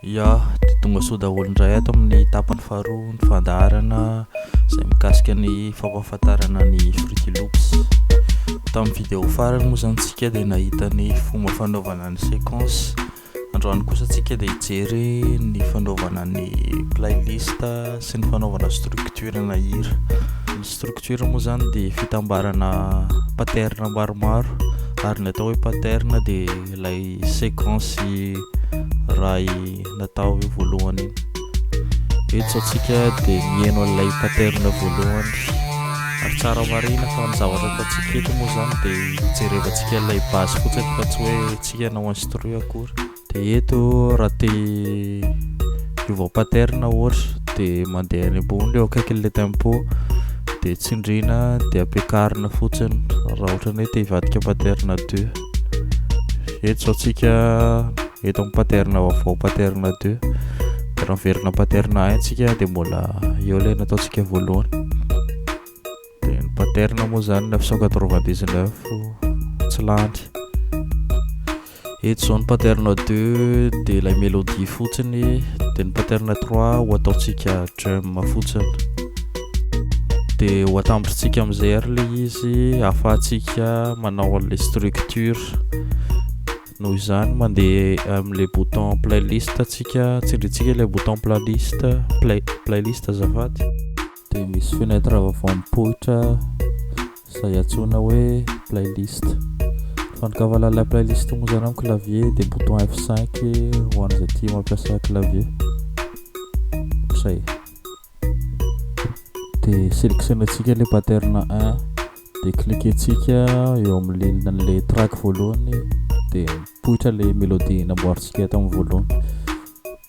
Ya, dia tonga soa daholo indray ato amin'ny tapany faharoa ny fandaharana izay mikasika ny fampahafantarana ny Fruity Loops. Tamin'ny video farany moa izany tsika dia nahita ny fomba fanaovana ny sequence. Androany kosa tsika dia hijery ny fanaovana ny playlist sy ny fanaovana structure na hira. Structure moa zany dia fitambarana pattern maromaro ary ny atao hoe pattern dia ilay séquence ray natao io voalohany iny eto satsika dia mieno an'ilay pattern voalohany ary tsara marina fa ny zavatra ataontsika eto moa zany dia hijerevantsika ilay base fotsiny fa tsy hoe tsika anao instruit akory De eto raha te hiova pattern ohatra de mandeha any ambony eo akaikin'ilay tempo de tsindrina de ampiakarina fotsiny raha ohatra ny hoe te hivadika pattern 2 eto zao tsika eto amin'ny pattern vaovao pattern 2 de raha miverina pattern 1 tsika de mbola eo ilay nataontsika voalohany Dia ny pattern moa izany 999 tsy lany. Eto izao ny pattern 2 dia ilay mélodie fotsiny, dia ny pattern 3 ho ataontsika drum fotsiny. Dia ho atambotrintsika amin'izay ary ilay izy ahafahantsika manao an'ilay structure. Noho izany mandeha amin'ilay bouton playlist antsika, tsindrintsika ilay bouton playlist, play, playlist azafady. dia misy fenêtre vaovao mipoitra izay antsoina hoe playlist fandokavan'ilay playlist moa izany amin'ny clavier dia bouton F5 ho an'izay tia mampiasa clavier izay dia sélectionnentsika le pattern 1 dia cliquentsika eo amin'ny le track voalohany dia mipoitra le mélodie namboarintsika tamin'ny voalohany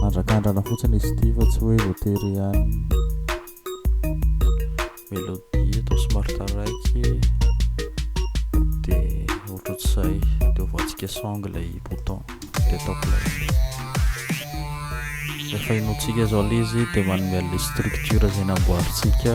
Mandrakandrana fotsiny izy ity fa tsy hoe voatery ihany. Melodie atao somary taraiky dia ohatr'izay dia ovatsika song ilay bouton dia atao play. Rehefa inoantsika izao ilay izy dia manome an'ilay structure izay namboarintsika.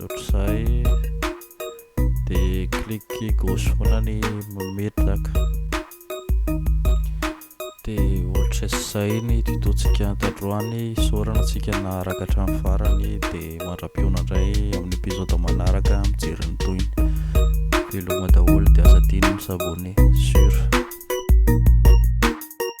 Ohatr'izay dia clique gauche foana ny mametraka. Dia ohatr'izay ny tuto-tsika tandroany. Isaorana antsika naharaka hatramin'ny farany dia mandra-pihaona indray amin'ny épisode manaraka mijery ny tohiny. Veloma daholo dia aza adino mi-s'abonner sur